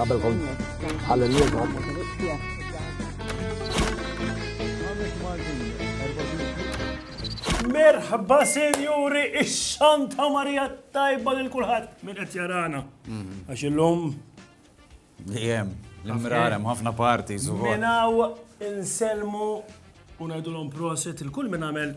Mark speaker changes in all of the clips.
Speaker 1: Qabel kont għal-lum
Speaker 2: Merħba senjuri, ix-xanta Marija tajba lil kulħadd minn qed jarana. Mhm. Għax illum Dejjem,
Speaker 3: l-imrar hemm ħafna parti su. Minaw
Speaker 2: inselmu u ngħidulhom proset il-kull minn għamel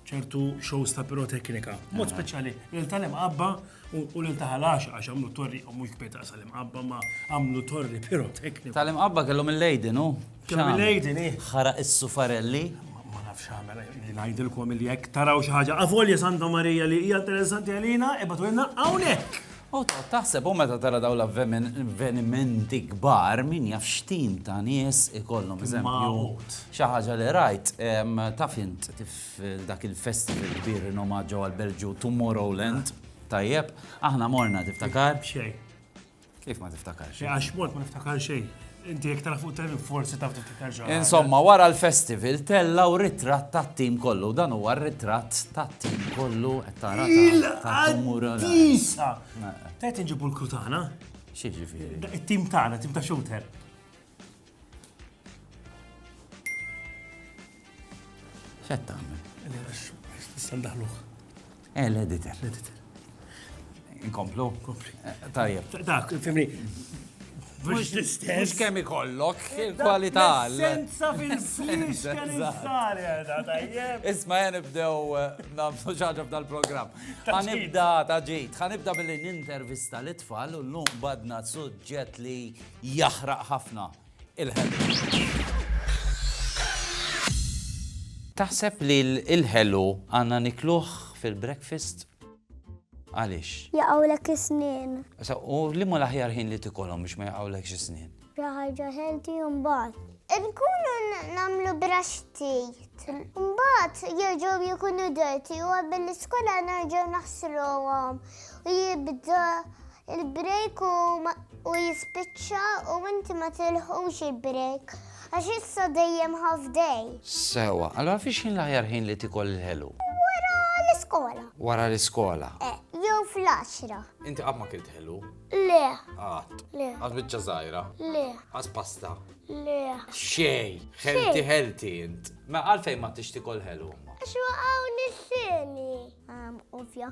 Speaker 2: ċertu shows ta' piroteknika. Mod speċjali, lil tal-imqabba u lil ta' ħalax għax għamlu torri, u mhux kbet għasal imqabba ma għamlu torri piroteknika. Tal-imqabba kellhom il-lejdi,
Speaker 3: no? Kellhom il-lejdi, ni.
Speaker 2: Ħara is-sufarelli.
Speaker 3: Ma nafx
Speaker 2: għamel, li ngħidilkom il-jek taraw xi ħaġa. Avolja Santa Marija li hija interessanti għalina, ibatu jenna hawnhekk. U tgħodd taħseb,
Speaker 3: u meta tara dawn l-avvenimenti kbar, min jaf x'tim ta' nies ikollhom. Eżempju, xi ħaġa li rajt, taf int f'dak il-festival kbir rinomat ġewwa l-Belġju, Tomorrowland, tajjeb, aħna morna tiftakar? B'xejn.
Speaker 2: Kif ma
Speaker 3: tiftakarx? Għax mort ma niftakar
Speaker 2: xejn. Inti jek tara fuq televik forsi taf tiftakar ġara. Insomma, wara l-festival
Speaker 3: tella u ritratt ta' tim kollu. Dan huwa ritratt ta' tim kollu qed tara ta' tumura. Tisa!
Speaker 2: Tajt nġibu l-kru tagħna? Xi ġifieri?
Speaker 3: It-tim tagħna, tim ta'
Speaker 2: shooter.
Speaker 3: X'qed tagħmel? Nista'
Speaker 2: ndaħluh. Eh, l-editor.
Speaker 3: L-editor. Inkomplu? Kompli.
Speaker 2: Eh, tajjeb. Dak,
Speaker 3: fimni.
Speaker 2: Mux l-istess. Mux kemm
Speaker 3: ikollok eh, kwalità. Senza
Speaker 2: fil-flix kemm insar jada, tajjeb. Isma jen ibdew
Speaker 3: eh, namsu ġaġa f'dal-program. Għanibda ta' ġejt, għanibda billi nintervista l-tfal u l-lum badna suġġet li jahraq ħafna Taħseb li l-ħelu għandna nikluh fil-breakfast? Għaliex? Jaqgħulek
Speaker 4: is-snien. U liema
Speaker 3: l-aħjar ħin li tikolhom biex ma jaqgħulekx is-snien? Xi ħaġa healthy
Speaker 4: u mbagħad. Nkunu nagħmlu braxtit. Mbagħad jerġgħu jkunu dirty u qabel l-iskola nerġgħu naħsluhom u jibda Il-break u jispiċċa u inti ma tilħqux il-break għax issa dejjem half day. Sewwa, allura
Speaker 3: fiex ħin l-aħjar ħin li tikol il-ħelu? Wara
Speaker 4: l-iskola. Wara l-iskola?
Speaker 3: Eh, jew
Speaker 4: fl-għaxra. Inti qatt ma kilt
Speaker 3: ħelu? Le.
Speaker 4: Qatt. Le.
Speaker 3: Għaż biċċa
Speaker 4: żgħira?
Speaker 3: Le. Għaż
Speaker 4: pasta?
Speaker 3: Le.
Speaker 4: Xej,
Speaker 3: ħelti ħelti int. Ma għalfejn ma tixtikol ħelu? Xwaqaw
Speaker 4: nissini. Ovvja.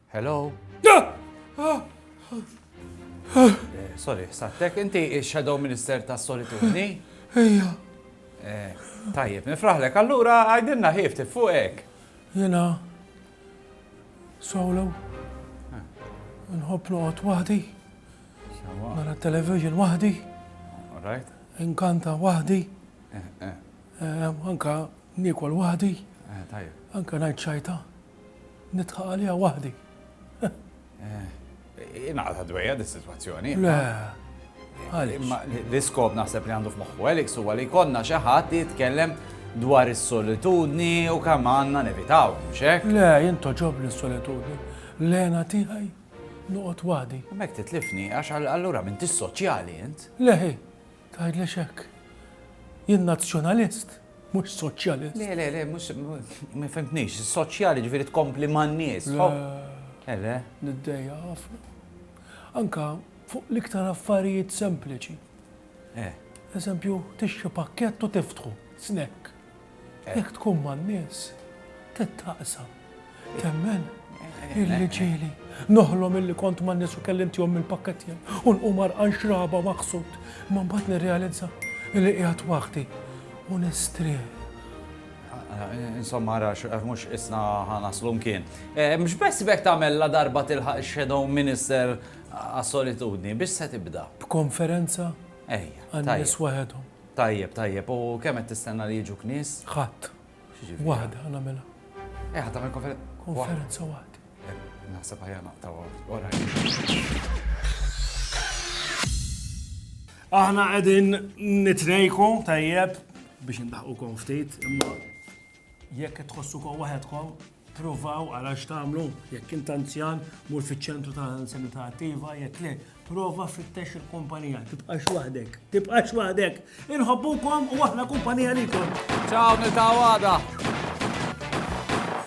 Speaker 3: Hello? Eh, sorry, sattek, inti il-Shadow Minister ta' Solitudni? Ejja.
Speaker 5: Eh,
Speaker 3: tajjeb, nifraħlek, allura għajdinna ħif tifuqek. Jena,
Speaker 5: solo, eh. nħob noqot wahdi, nara television wahdi,
Speaker 3: inkanta
Speaker 5: wahdi, anka nikol wahdi, anka
Speaker 3: najt xajta.
Speaker 5: Nidħaq għaliha waħdi.
Speaker 3: Ingħaqadha dwejja dis-sitwazzjoni. Le.
Speaker 5: Għaliex? Imma l-iskop
Speaker 3: naħseb li għandu f'moħħu Alex huwa li jkollna xi ħadd li jitkellem dwar is-solitudni u kemm għandna nevitaw, mhux hekk? Le, jien toġobni
Speaker 5: s-solitudni. L-hena tiegħi noqgħod waħdi. Imma jekk titlifni, għax
Speaker 3: allura m'intix soċjali int. Le, hi.
Speaker 5: Tgħidlix hekk. Jien Nazzjonalist, mhux Soċjalist. Le, le, le, mhux,
Speaker 3: ma fhimtnix. Soċjali jiġifieri tkompli man-nies. Le. Eh, le. Niddejja
Speaker 5: ħafna. Anka fuq l-iktar affarijiet sempliċi. Eh. Eżempju, tixtri pakkett u tiftħu, snack. Jekk tkun man-nies, tittaqsa. Temmen? Illi ġieli noħlom illi kont man-nies u kelli ntihom mill-pakkett tiegħi u nqum għarqan xraba u maħsud, imma mbagħad nirrealizza illi qiegħed waħdi u nistrieħ. Insomma,
Speaker 3: rax, mhux isna ħanaslu mkien. Eh, mhux bess bek tagħmel la darba tilħaq shadow minister għas-solitudni, biex se tibda. B'konferenza?
Speaker 5: Ejja.
Speaker 3: Għan-nies waħedhom.
Speaker 5: Tajjeb, tajjeb. U
Speaker 3: kemm qed tistenna li jiġuk nies? Ħadd.
Speaker 5: X'jiġifieri? Waħda ħa nagħmilha. Eh, ħa tagħmel
Speaker 3: konfer- Konferenza
Speaker 5: waħda. Eh, Naħseb ħajja
Speaker 3: naqtaw. All right.
Speaker 2: Aħna qegħdin nitrejku tajjeb biex indaħqukom ftit, imma jekk qed tħossukom waħedkom, Provaw għal għax tagħmlu, jekk int anzjan, mur fiċ-ċentru ta' anzjanità attiva, jekk le, prova fittex il-kumpanija, tibqax waħdek, tibqax waħdek. Inħobbukom u aħna kumpanija likom.
Speaker 3: Ciao,
Speaker 2: nil-tawada.